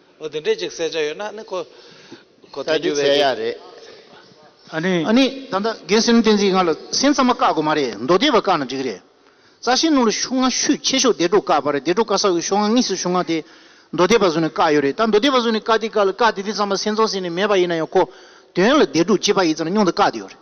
འོ་དེ་འདྲའི་ཅིག་གསལ་ཆ་ཡོད་ན་ནི་ཁོ་ཁོ་ཐལ་རྒྱུ་བས་རེད། ཨ་ནི། ཨ་ནི། ད་ལྟ་རྒན་སེམས་བསྟན་འཛིན་ང་ལ་སེམས་ཙམ་མ་བཀག་དགོས་མ་རེད་མདོ་སྡེ་བ་བཀག་ན་འགྲིག་རེད། རྩ་ཤེ་ནུ་ལ་ཤུག་ང་ཤུད་ཆེ་ཤོག་དེ་དྲུག་བཀག་པ་རེད་དེ་དྲུག་བཀག་ས་ཡོད་ཤོག་ང་གཉིས་སུ་ཤུག་ང་དེ་མདོ་སྡེ་བ་བཟུང་ནས་བཀག་ཡོད་རེད་ད་མདོ་སྡེ་བ་བཟུང་ནས་བཀག་དེ་བཀག་ལ་བཀག་དེ་དེ་ཙམ་ལ་སེམས་ཚོང་ཟེར་ནས་མེད་པ་ཡིན་ན་ཡང་ཁོ་དོན་ལ་དེ་དྲུག་སྤྱི་པ་ཡིན་ཙམ་ལ་སྙུང་དུ་བཀག་དེ་ཡོད་རེད།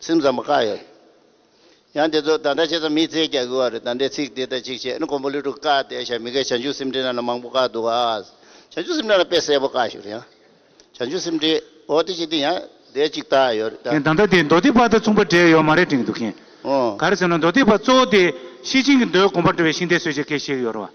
ཚིག་མཛངས་པ་བཀའ་ཡོད་རེད། ཡང་དེ་ཚོ་དང་འདྲ་ཆེ་ཙམ་མི་ཚེ་བསྐྱལ་དགོས་བ་རེད་དང་འདྲའི་ཚིག་དེ་ལྟར་ཅིག་བཤད་ན་ཀོང་པོ་ལི་ཀྲུག་བཀའ་གཏད་ཤག་མི་འགས་བྱང་ཆུབ་སེམས་འགྲེལ་ནང་ན་མང་པོ་བཀའ་འདུག་ཨ། བྱང་ཆུབ་སེམས་འགྲེལ་ནང་དཔེ་གསལ་པོ་བཀའ་ཞིག་རེད་ཨ། བྱང་ཆུབ་སེམས་འགྲེལ་འོ་དེ་ཅིག་དེ་ཡང་དེ་ཅིག་བཏགས་ཡོད་རེད་ད། ད་ལྟ་དེ་མདོ་སྡེ་པ་དང་མཚུངས་པ་འདྲེས་ཡོད་མ་རེད་དྲན་གྱི་འདུག་གན། ག་རེ་ཟེར་ན་མདོ་སྡེ་པ་གཙོ་བོ་དེ་ཤེས་ཅན་གྱི་མདོའི་དགོངས་པར་འགྲོ་བའི་ཤིང་རྟའི་སྲོལ་ཆེ་གེ་བཤད་ཀྱི་ཡོད་རེད་བ།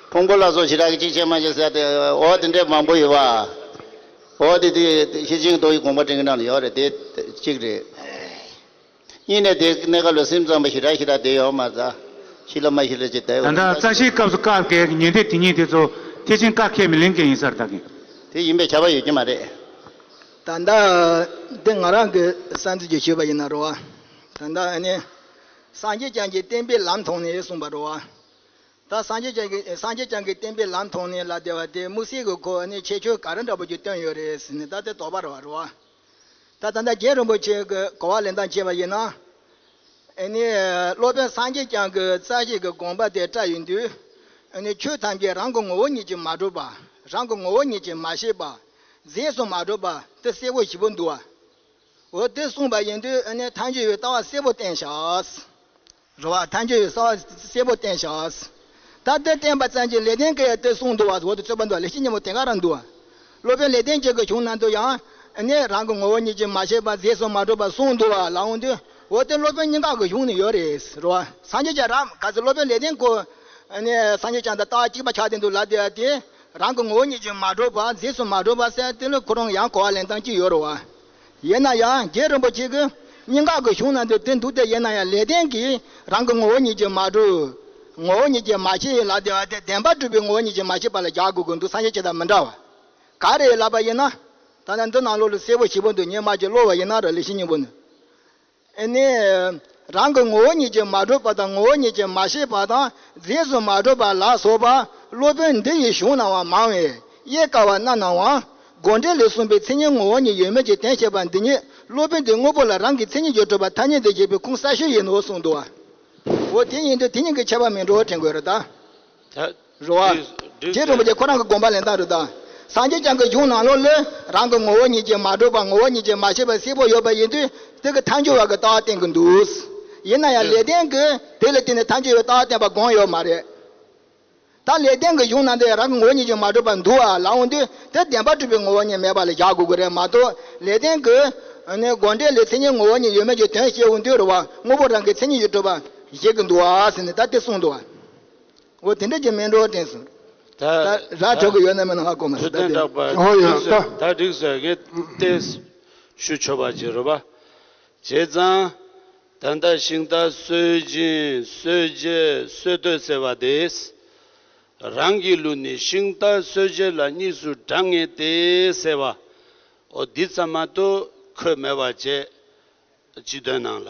ཕུང་པོ་ལ་སོགས་བྱེ་བྲག་གི་གཅིག་ཆད་མ་ཞེས་ཟེར་ཏེ། འོ་དེ་འདྲའི་མང་པོ་ཡོད་པ། འོ་དེ་དེ་ཤེས་ཆེན་རྡོ་ཡི་དགོངས་པ་འདྲེན་གྱི་ནང་ལ་ཡོད་རེད་དེ། གཅིག་རེད། གཉིས་ནས་དེ་གནད་ག་ལ་སེམས་ཙམ་པ་ཞེ་དྲག་ཞེ་དྲག་དེ་ཡོད་མ་རྩ། ཤི་ལ་མ་ཤི་ལ་ཅི་ལྟའི་ད་འོས་ལྟ་ལྟ། རྩ་ཤེའི་སྐབས་སུ་བཀག་བསྐལ་གྱི་ཉེན་བརྡས་དེ་ཉིད་དེ་ཚོ་ཐེག་ཆེན་བཀག་ཁས་མི་ལེན་མཁན་ཡིན་སར་བལྟ་གིན། དེ་ཡིན་པའི་ཁྱབ་པ་ཡོད་ཀྱི་མ་རེད། ད་ལྟ་འདི་ང་རང་གི་བསམ་ཚུལ་གྱི་ཞུས་པ་ཡིན་ན་རོ། ད་ལྟ་ཨ་ནི། སངས་རྒྱས་བསྐྱངས་ཀྱི་བསྟན་པའི་ལམ་མཐོང་ནས་གསུངས་པ་རོ། ད་སངས་རྒྱས་བསྐྱངས་གི་སངས་རྒྱས་བསྐྱངས་གི་བསྟན་པའི་ལམ་མཐོང་ནས་ལ་བདེ་བ་དེ་དམུ་སྲི་གི་གོ་ནས་ཁྱད་ཆོས་ག་རེ་འདྲ་པོ་ཅིག་སྟོན་ཡོད་རེད་ཟེར་ནས་ད་དེ་དོགས་པར་བ་རུ་བ། ད་ད་ལྟ་རྒྱལ་རིན་པོ་ཆེ་གི་གོ་བ་ལེན་སྟངས་བྱས་པ་ཡིན་ན། ཨེ་ནས་སློབ་དཔོན་སངས་རྒྱས་བསྐྱངས་གི་རྩ་ཤེས་ཀྱི་དགོངས་པ་དེ་བཀྲ་ཡིན་དུས། ཨེ་ནས་ཆོས་ཐམས་ཅད་རང་གི་ངོ་བོ་ཉིད་ཀྱིས་མ་གྲུབ་པ། རང་གི་ངོ་བོ་ཉིད་ཀྱིས་མ་ཤེས་པ། རྫས་སུ་མ་གྲུབ་པ་འདི་གསལ་བོ་ཞིབ་པོ་འདུག་བ། འོ་དེ་གསུངས་པ་ཡིན་དུས་ཨེ་ནས་ཐམས་ཅད་ཡོད་ལྟ་བ་གསལ་བོ་བསྟན་བཞག། རུ་བ་ཐམས་ཅད་ཡོད་གསང་བ་སེར་པོ་བསྟན་བྱ། ད་ལྟའི་བསྟན་པ་ཙམ་གྱི་ལེགས་ལྡན་སྐལ་ཡང་སྟེར་གསུངས་འདུག་བར་དུ་འོག་ཏུ་རྩོད་པ་འདུག་ལས་བྱེད་ཉིན་མོ་དེ་ག་རང་འདུག། སློབ་དཔོན་ལེགས་ལྡན་སྐྱེས་ཀྱི་གཞུང་ནང་དུ་ཡང། ནས་རང་གི་ངོ་བོ་ཉིད་ཀྱིས་མ་བྱས་པར་རྫས་སུ་མ་གྲུབ་པར་གསུངས་འདུག་བར་ལའང་འདུག་འོག་ཏུ་སློབ་དཔོན་སྙིང་ག་གི་གཞུང་ནས་ཡོད་རེད། རུ་བ། སངས་རྒྱས་ཀྱི་རབ་ག་ཚོད་སློབ་དཔོན་ལེགས་ལྡན་སྐུ། ནས་སངས་རྒྱས་བྱང་དང་རྟགས་གཅིག་པ་ཆགས་བསྡད་འདུག་ལབ་བསྡད་དེ། རང་གི་ངོ་བོ་ཉིད་ཀྱིས་མ་གྲུབ་པར་རྫས་སུ་མ་གྲུབ་པར་གསལ་ཏེ་ལུས་ཁོ་རང་ཡང་གོ་བ་ལེན་སྟངས་གཅིག་ཡོད་རུ་བ། ཡེ་ན་ཡང་རྒྱལ་རིན་པོ་ཆེ་གི་སྙིང་ག་གི་གཞུང་ན་འདི་དེ་འདུག་སྟེ་ཡེ་ན་ཡང་ལས་ལྡན་གྱིས་རང་གི་ངོ་བོ་ཉིད་ཀྱིས་མ་གྲུབ། ངོ་བོ་ཉིད་ཀྱིས་མ་ཤེས་ལ་དེ་བ་དེ་བདེན་པར་གྲུབ་པའི་ངོ་བོ་ཉིད་ཀྱིས་མ་ཤེས་པ་ལ་རྒྱག་དགོས་ཀྱི་འདུག་སངས་རྒྱས་ཀྱི་དང་མི་འདྲ་བ་ག་རེ་ལབ་པ་ཡིན་ན། ད་ལྟ་འདི་ནང་ལོགས་ལ་གསལ་བོ་ཞིབ་པོ་འདུག་ཉི་མ་ཀྱི་གློག་བ་ཡིན་ན་ར་ལས་ཤིང་སྙིང་པོ་ནི། ཨེ་ནས། རང་གི་ངོ་བོ་ཉིད་ཀྱིས་མ་གྲུབ་པ་དང་ངོ་བོ་ཉིད་ཀྱིས་མ་ཤེས་པ་དང་རྫས་སུ་མ་གྲུབ་པ་ལ་སོགས་པ་སློབ་དཔོན་འདི་ཡི་གཞུང་རྣམས་བ་མང་བས་དབྱེ་དཀའ་བ་རྣམས་ནང་དབང་དགོངས་འགྲེལ་ལས་གསུངས་པའི་མཚན་ཉིད་ངོ་བོ་ཉིད་ཡོད་མེད་ཀྱི་དོན་བཤད་པ་འདི་ཉིད་སློབ་དཔོན་འདིས་དངོས་པོ་ལ་རང་གི་མཚན་ཉིད་ཀྱི་གྲུབ་པ་ཐ་སྙད་འདི་བཞེད་པའི་ཁུངས་གསར་ཤོས་ཡིན་ནོ་གསུངས་འདུག་བ། འོ་དེ་ཡིན་དུས་དེ་གཉིས་ཀྱི་ཁྱད་པར་མི་འགྲོ་བར་དྲན་དགོས་ར་ད། རུ་བ། དེའི་རིན་པོ་ཆེ་ཁོ་རང་གི་དགོངས་པ་ལས་མཐའ་རུ་དག། སངས་རྒྱས་བསྐྱངས་ཀྱི་གཞུང་ནང་ལོགས་བློས་རང་གི་ངོ་བོ་ཉིད་ཀྱིས་མ་གྲུབ་པ་ངོ་བོ་ཉིད་ཀྱིས་མ་ཤེས་པའི་གསལ་པོ་ཡོད་པ་ཡིན་དུས་དེ་གི་མཐའ་འཁྱོལ་བ་གི་ལྟ་བ་བསྟན་གི་འདུག། ཡིན་ན་ཡང་ལེགས་ལྡན་གིས་དེ་ལ་བརྟེན་ནས་མཐའ་འཁྱོལ་བའི་ལྟ་བ་བསྟན་པ་དགོངས་ཡོད་མ་རེད། ད་ལེགས་ལྡན་གི་གཞུང་ནང་དུ་རང་གི་ངོ་བོ་ཉིད་ཀྱིས་མ་གྲུབ་པར་འདུག་བ་ལ་འོང་དུས་དེ་བདེན་པར་གྲུབ་པའི་ངོ་བོ་ཉིད་མེད་པ་ལ་བཞག་དགོས་ཀྱི་རེད་མ་གཏོགས་ལེགས་ལྡན་གིས། དགོངས་འགྲེལ་ལས་མཚན་ཉིད་ངོ་བོ་ཉིད་ཡོད་མེད་ཀྱི་དོན་བཤད་འོང་དུས་རུ་བ་དངོས་པོ་རང་གི་མཚན་ཉིད་ཀྱིས་གྲུབ་པར་བཞེད་ཀྱི་འདུག་བ་ཟེར་ནས་ད་དེ་གསུངས་འདུག་བ། འོ་དེ་འདྲ་ཀྱི་མིན་འགྲོ་དེང་སང། ར་གྲོ་གི་ཡོད་ན་མིན་ན་ང་གོ་མ་སྲིད་ད་དེ། ཨོ་ཡང་ལྟ། ད་འགྲིག་ཟེར་ངས་བལྟས། ཞུ་ཆོ་བ་བྱེད་རོ་བ། བྱས་ཙང། ད་ལྟ་ཤིང་རྟ་གསོད་སྦྱིན་གསོད་རྗེས་གསོད་བསྟོད་ཟེར་བ་དེས། རང་གི་ལུས་ནི་ཤིང་རྟ་གསོད་རྗེས་ལ་གཉིས་སུ་བགྲང་ངེས་ཏེ་ཟེར་བ། འོ་འདི་ཙམ་མ་གཏོགས་ཁོས་མེད་བ་བྱས། སྤྱི་དོན་ནང་ལ།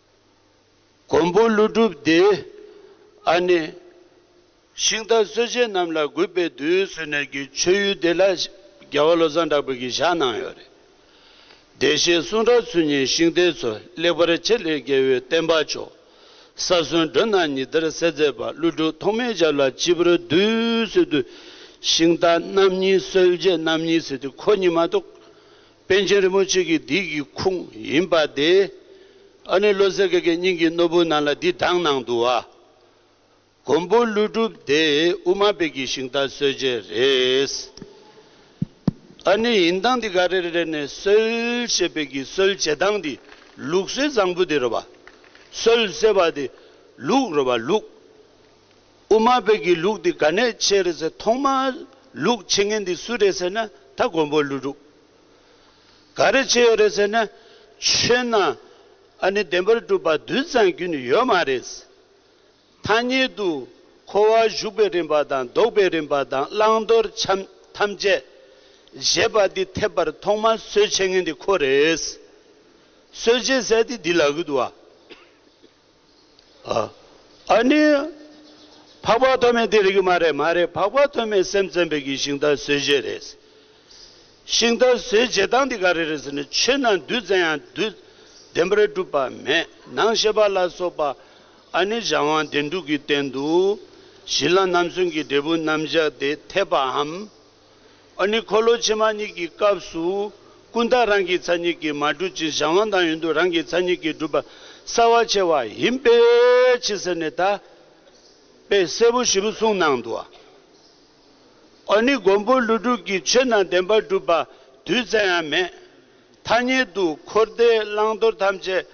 མགོན་པོ་ཀླུ་སྒྲུབ་སྡེ་ཨ་ནེ། ཤིང་རྟ་གསོད་བྱེད་རྣམས་ལ་གུས་པས་འདུད་གསོལ་ནས་ཀྱི་མཆོད་ཡུལ་བདེ་ལྷ་རྒྱལ་བ་བློ་བཟང་གྲགས་པའི་གྱི་བཞག་གནང་ཡོད་རེད། བདེ་གཤེགས་གསུང་རབ་ཚུལ་གཉིས་ཤིང་རྟའི་ཚོ་ལེགས་པར་འཆད་ལེགས་རྒྱལ་བོའི་བསྟན་པ་མཆོག་ས་གསོན་མགྲོན་རྣམས་ཉི་ཟླར་གསལ་མཛད་པ་ཀླུ་སྒྲུབ་ཐོགས་མེད་ཞབས་ལ་སྤྱི་བོར་འདུད་གསོལ་དུ་ཤིང་རྟ་རྣམ་གཉིས་གསོད་བྱེད་རྣམ་གཉིས་ཟེར་དུས་ཁོ་གཉིས་མ་གཏོགས་པཎ་ཆེན་རིན་པོ་ཆེ་གི་དུས་ཀྱི་ཁུངས་ཡིན་པ་དེ། ཨ་ནུ་བློ་གསལ་གེ་ཀའི་སྙིང་གི་ནོར་བུ་ནང་ལ་འདི་གདངས་གནང་འདུག་ཨ། མགོན་པོ་ཀླུ་སྒྲུབ་དེ་དབུ་མ་དཔལ་གྱི་ཞིང་རྟ་གསོལ་བྱེད་རེད། ཨ་ནི་ཡིན་གདངས་འདི་ག་རེ་རེ་རེ་ནས་གསོལ་བྱེད་དཔལ་གྱི་གསོལ་བྱེད་གདངས་འདི་ལུགས་སྲོལ་བཟང་པོ་དེ་རེད་བ། གསོལ་ཟེར་བ་དེ་ལུགས་རེད་བ་ལུགས། དབུ་མ་བོད་ཀྱི་ལུགས་འདི་ག་ནས་ཆད་རེད་ཟེར་ཐོག་མར་ལུགས་ཆེ་ངན་འདི་སུ་རེད་ཟེར་ན་ད་མགོན་པོ་ཀླུ་སྒྲུབ་ག་རེ་བྱས་ཡོད་རེད་ཟེར་ན་ཆོས་ནང་ཨ་ནི་བདེན་པར་སྒྲུབ་པ་དུད་ཚང་རྒྱུན་ཡོད་མ་རེད། ཐ་སྙད་དུ་འཁོར་བ་གཞུག་པའི་རིམ་པ་དང་ལྡོག་པའི་རིམ་པ་དང་བླང་དོར་ཐམས་ཅད་བཞེད་པ་འདི་ཐེབས་པར་ཐོག་མར་སྲོལ་ཆེ་ངན་འདི་ཁོ་རེད། སྲོལ་ཆེ་ཟེར་དེ་འདི་ལག་གི་དུ་བ། ཨ་ཨ་ནི། འཕགས་པ་ཐོན་མེད་འདི་རིགས་མ་རེད་མ་རེད་འཕགས་པ་ཐོན་མེད་སེམས་ཅན་བོད་ཀྱི་ཤིང་རྟ་ཟོས་བྱེད་རེད། ཤིང་རྟ་ཟོས་བྱེད་སྟངས་འདི་ག་རེ་རེད་ཟེར་ནས་ཆོས་རྣམས་བདུད་བཙན་ཡང་བདུད་བདེན་པར་སྒྲུབ་པ་མེད་ནང་བཤད་པ་ལ་སོགས་པ་ཨ་ནི་བྱ་དབང་བདེན་དྲུག་གི་སྟེང་དུ་གཞི་ལམ་རྣམ་གསུམ་གྱི་འབྲས་བུ་རྣམ་བཞག་དེ་འཐད་པའམ། ཨ་ནི་འཁོར་ལོ་ཕྱི་མ་གཉིས་ཀྱི་སྐབས་སུ། ཀུན་བརྟགས་རང་གི་ཚ་གཉིས་ཀྱིས་མ་གྲུབ་ཅིང་གཞན་དབང་དང་ཡུན་དུ་རང་གི་ཚ་གཉིས་ཀྱིས་གྲུབ་པ་གསལ་བར་ཕྱེ་བ་ཡིན་པས་ཕྱི་ཟེར་ནས་དག་པའི་སྲས་པོ་བཞི་པོ་གསུངས་གནང་འདུག། ཨ་ནི་མགོན་པོ་ཀླུ་སྒྲུབ་ཀྱི་ཆོས་རྣམས་བདེན་པར་གྲུབ་པ་དུས་གསལ་ཡང་མེད། ཐ་སྙད་དུ་འཁོར་འདས་བླང་དོར་ཐམས་ཅད་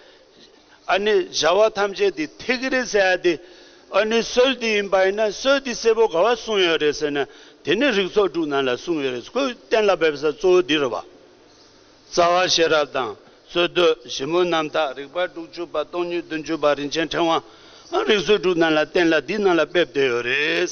ཨ་ནི་བྱ་བ་ཐམས་ཅད་དེ་ཐེག་གི་རེད་ཟེར་ཡ་དེ་ཨ་ནི་སྲོལ་དེ་ཡིན་པ་ཡིན་ན་སྲོལ་དེ་གསལ་པོ་ག་བ་གསུངས་ཡོད་རེད་ཟེར་ན་དེ་ནི་རིགས་ཚོགས་དྲུག་ནང་ལ་གསུངས་ཡོད་རེད་ཟེར་ཁོས་གཏན་ལ་འབེབས་ས་གཙོ་བོ་འདི་རུ་བ། རྩ་བ་ཤེས་རབ་དང་རྩོད་བསྡུ་ཞིབ་མོ་རྣམ་དག་རིག་པ་དྲུག་ཅུ་པ་སྟོང་ཉིད་བདུན་ཅུ་པ་རིན་ཆེན་ཕྲེང་བའང་རིགས་ཚོགས་དྲུག་ནང་ལ་གཏན་ལ་འདི་ནང་ལ་འབེབས་བསྡད་ཡོད་རེད།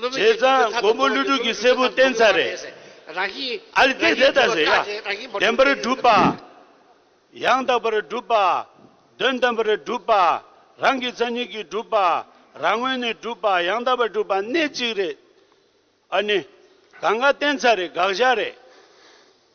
བྱས་ཙང་མགོན་པོ་ཀླུ་སྒྲུབ་ཀྱི་སྲས་པོ་བསྟེན་ཚར་རེད། ཨཱ་ལི་དེ་ཟེར་ད་ཟེར་ཡ། བདེན་པར་སྒྲུབ་པ། ཡང་དག་པར་སྒྲུབ་པ། དོན་དམ་པར་སྒྲུབ་པ། རང་གི་མཚན་ཉིད་ཀྱིས་སྒྲུབ་པ། རང་ངོས་ནས་སྒྲུབ་པ་ཡང་དག་པར་སྒྲུབ་པ་གནད་གཅིག་རེད། ཨཱ་ནི། གང་ག་བསྟེན་ཚར་རེད་དགག་བཞག་རེད།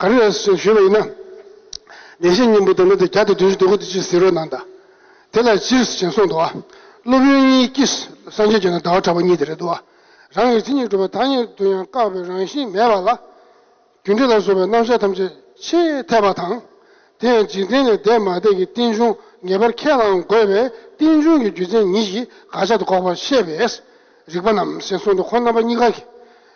ག་རེ་རེད་ཟེར་ཞུས་པ་ཡིན་ན། བདེན་བཞི་སྙིང་པོ་དོན་མེད་དུ་བརྒྱ་དང་བདུན་ཅུ་དོན་དགུ་དུ་ཅི་ཟེར་རོ་གནང་གདའ། དེ་ལ་སྤྱིར་བྱིན་གསུངས་འདུག་ཨ། སློབ་དཔོན་གཉིས་ཀྱིས་སངས་རྒྱས་བྱོན་ན་ཟླ་བ་གྲགས་པ་གཉིས་དེ་རེད་འདུག་ཨ། རང་གི་སྤྱི་གཉིས་གྲུབ་པ་དག་ཉིད་དུ་ཡང་བཀག་པའི་རང་བཞིན་མེད་པ་ལ། རྒྱུ་འབྲས་ལ་སོགས་པའི་རྣམ་གཞག་ཐམས་ཅད་ཆེས་འཐད་པ་དང། དེ་ཡང་འཇིག་རྟེན་ལས་འདས་མ་འདས་ཀྱི་རྟེན་འབྱུང་ངེས་པར་ཁས་བླང་དགོས་པས་རྟེན་འབྱུང་གི་རྒྱུ་མཚན་ཉིད་ཀྱིས་དགག་བྱ་དགག་པར་བཤད་པས། རིགས་པ་རྣམས་ཞེས་གསུངས་འདུག་ཁོང་རྣམ་པ་གཉིས་ཀ་གིས།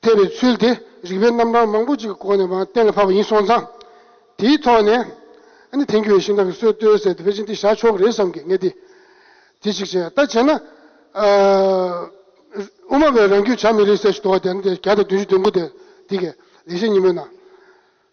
ཐེབས་པའི་ཚུལ་དེ་རིག་པའི་རྣམ་གྲངས་མང་པོ་ཅིག་གི་སྒོ་ནས་མང་གཏན་ལ་ཕབ་པ་ཡིན་སོང་ཙང། དེའི་ཐོག་ནས་ནི་དེང་གི་བའི་ཤིང་རྟ་གི་སྲོལ་བཏོད་ཟེར་ཏེ་བེ་ཅིང་ཏི་བཞག་ཆོག་གི་རེད་བསམ་གི་ངེས་ཏེ། དེ་ཅིག་བྱས། ད་བྱས་ན། དབུ་མ་བས་རང་རྒྱུད་བྱ་མི་རིགས་ཟེར་བཞིན་འདུག་བ་དེ་ནི་དེ་ག་དང་བདུན་ཅུ་བདུན་དགུ་དེ་དེ་གས་ལེགས་བཤད་ཉིན་མོའི་ནང།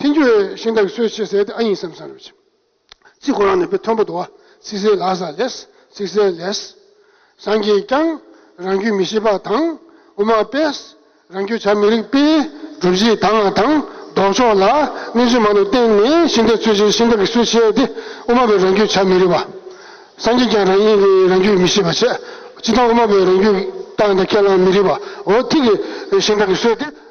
ཐེངས་བཅུ་བའི་ཤིང་རྟ་གི་སྲོལ་ཕྱེ་ཟེར་ཏེ་ཨ་ཡིན་བསམ་བསམ་རེད། ཚིག་གོ་རང་ནས་པའི་མཐོན་པོ་དུ་བ་ཚིག་ཟེར་ལགས་ས་ལེས་ཚིག་ཟེར་ལེས། སངས་རྒྱས་ཀྱང་རང་རྒྱུད་མི་ཤེས་པ་དང་དབུ་མ་པས་རང་རྒྱུད་བྱ་མི་རིགས་པས་སྒྲུབ་བྱེད་དང་ང་དང་ལྡོག་ཕྱོགས་ལ་གནས་ཚུལ་མང་དུ་བསྟན་ནས་ཤིང་རྟའི་ཚུལ་བྱས་ཤིང་རྟ་གི་སྲོལ་ཕྱེ་སྟེ་དབུ་མ་པས་རང་རྒྱུད་བྱ་མི་རིགས་པ། སངས་རྒྱས་ཀྱང་རང་ཉིད་ཀྱི་རང་རྒྱུད་མི་ཤེས་པ་བྱས། སྤྱི་བཏང་དབུ་མ་པས་རང་རྒྱུད་བཏང་དང་ཁས་བླང་མི་རིགས་པའོ་ཐིག་གི་ཤིང་རྟ་གི་སྲོལ་དེ།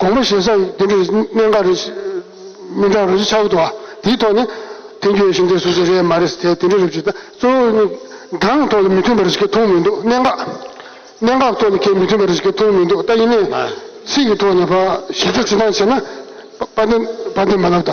དགོངས་པ་བཞེས་ས་ཡིན། དེ་འདྲའི་གནད་འགག་རེད། མི་འདྲ་བ་རེད་ཅེས་ཆ་བོ་བཏོན། དེའི་ཐོག་ནས། དེང་དུས་ཞིང་སྡེ་སོ་སོའི་རེད་མ་རེད་ཟེར་ཐལ། དེ་འདྲའི་རེ་བཅོལ་ད་གཙོ་བོ་ནི། སྒང་ཐོག་ལ་མི་མཐུན་པ་རེ་ཞིག་གི་ཐོག་མི་འདུག་གནད་འགག། གནད་འགག་ཐོག་ནས་ཁྱེད་མི་མཐུན་པ་རེ་ཞིག་གི་ཐོག་མི་འདུག་ད་ཡིན་ནའི། ཚིག་གི་ཐོག་ནས། གཞི་རྩ་ཅི་ཐང་བྱས་ན། པ་འདི་མ་ལབ་ད།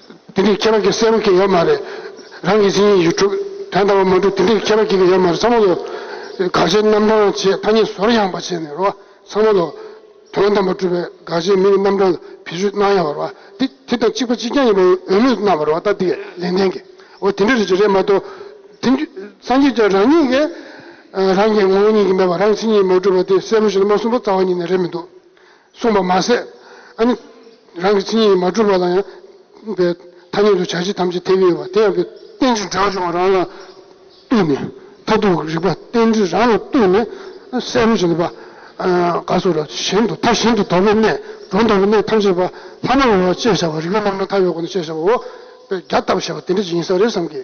དེ་འདྲའི་ཁྱད་པར་གྱི་སེམས་ཀྱི་ཡོད་མ་རེད། རང་གི་སེམས་ཡིག་དྲུག་དོན་དམ་པ་མ་གྲུབ་དེ་འདྲའི་ཁྱད་པར་གྱི་ཡོད་མ་རེད་ཚང་མ་ལོ། དགག་བྱའི་རྣམ་གྲངས་ཆེས་ཐ་སྙད་ཟོར་ཡང་བ་བྱས་ནས་རོ། ཚང་མ་ལོ། དོན་དམ་པ་གྲུབ་པའི་དགག་བྱའི་མིང་གི་རྣམ་གྲངས་ལ་བེད་སྤྱོད་གནང་ཡང་བ་རོ། དེ་དེ་དང་གཅིག་པ་གཅིག་རྐྱང་ཡིན་པའི་འོས་མོས་གནང་བ་རོ་ད་དེ་ལན་ལྡན་གི། འོ་དེ་འདྲ་རེད་ཅེས་རེད་མ་གཏོགས། དེ། སངས་རྒྱས་ཀྱང་རང་ཉིད་ཀྱི། རང་གི་ངོ་བོ་ཉིད་ཀྱིས་མེད་པ་རང་གི་སེམས་ཉིད་མ་གྲུབ་པ་དེ་གསལ་པོ་ཞིག་ལ་མ་གསུངས་པ་རྩ་བ་ཉིད་ནས་རེད་མི་འདུག། གསུངས་པ་མ་ཟད། རང་གི་ཚིག་ཉིད་མ་གྲུབ་པ་ལ་ཡང་པའི་ཐ་སྙད་དུ་བྱ་བྱེད་ཐམས་ཅད་ཐལ་བས་ཡོད་པ་དེ་ཡང་པའི་རྟེན་ཅིང་འབྲེལ་བ་འབྱུང་བ་རང་ལ་བཏུད་ནས་མཐར་ཐུག་གི་རིག་པ་རྟེན་ཅིང་རང་ལ་བཏུད་ནས་གསལ་བར་བྱེད་པ། ག་སོགས་ལ་གཞན་དུ་མཐའ་གཞན་དུ་དོགས་པའི་གནས་སྒྲོ་འདོགས་པའི་གནས་ཐམས་ཅད་པ་ལྷ་མོ་བ་ཅེས་བྱ་བ་རིག་པའི་རྣམ་གྲངས་མཐའ་ཡས་སྒོ་ནས་ཤེས་བྱ་བ་འོད་དཔལ་བརྒྱ་བཏབ་པར་བྱ་བ་དེ་འབྲས་ཀྱི་ཡིན་ས་རེད་བསམ་གྱི།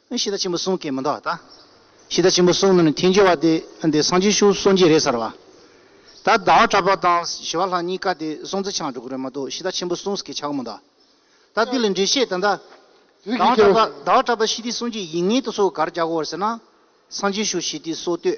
ཨེ་ཤི་ད་ཆེན་པོ་གསུང་སྐད་མི་འདྲ་བ་ད། ཤི་ད་ཆེན་པོ་གསུང་ནི་ནི་ཐེན་ཅོ་བ་དེ་འདི་སང་ཆེན་ཤུག་གསུང་གྱི་རེད་ཟེར་བ། ད་ཟླ་བ་གྲགས་པ་དང་ཞི་བ་ལྷ་གཉིས་ཀ་དེ་གསུང་རྩི་ཆང་འགྲོ་གི་རེད་མ་གཏོགས་ཤི་ད་ཆེན་པོ་གསུང་སྐད་ཆགས་མི་འདྲ། ད་དེ་ལས་འགྲེལ་བཤད་ད་ཟླ་བ་གྲགས་པ་ཟླ་བ་གྲགས་པ་ཤི་དི་གསུང་གྱི་ཡིག་ངེས་ཏུ་སོ་གར་རྒྱག་གོ་བར་ཟེར་ན། སང་ཆེན་ཤུག་ཤི་དི་སོ་ལྟོས།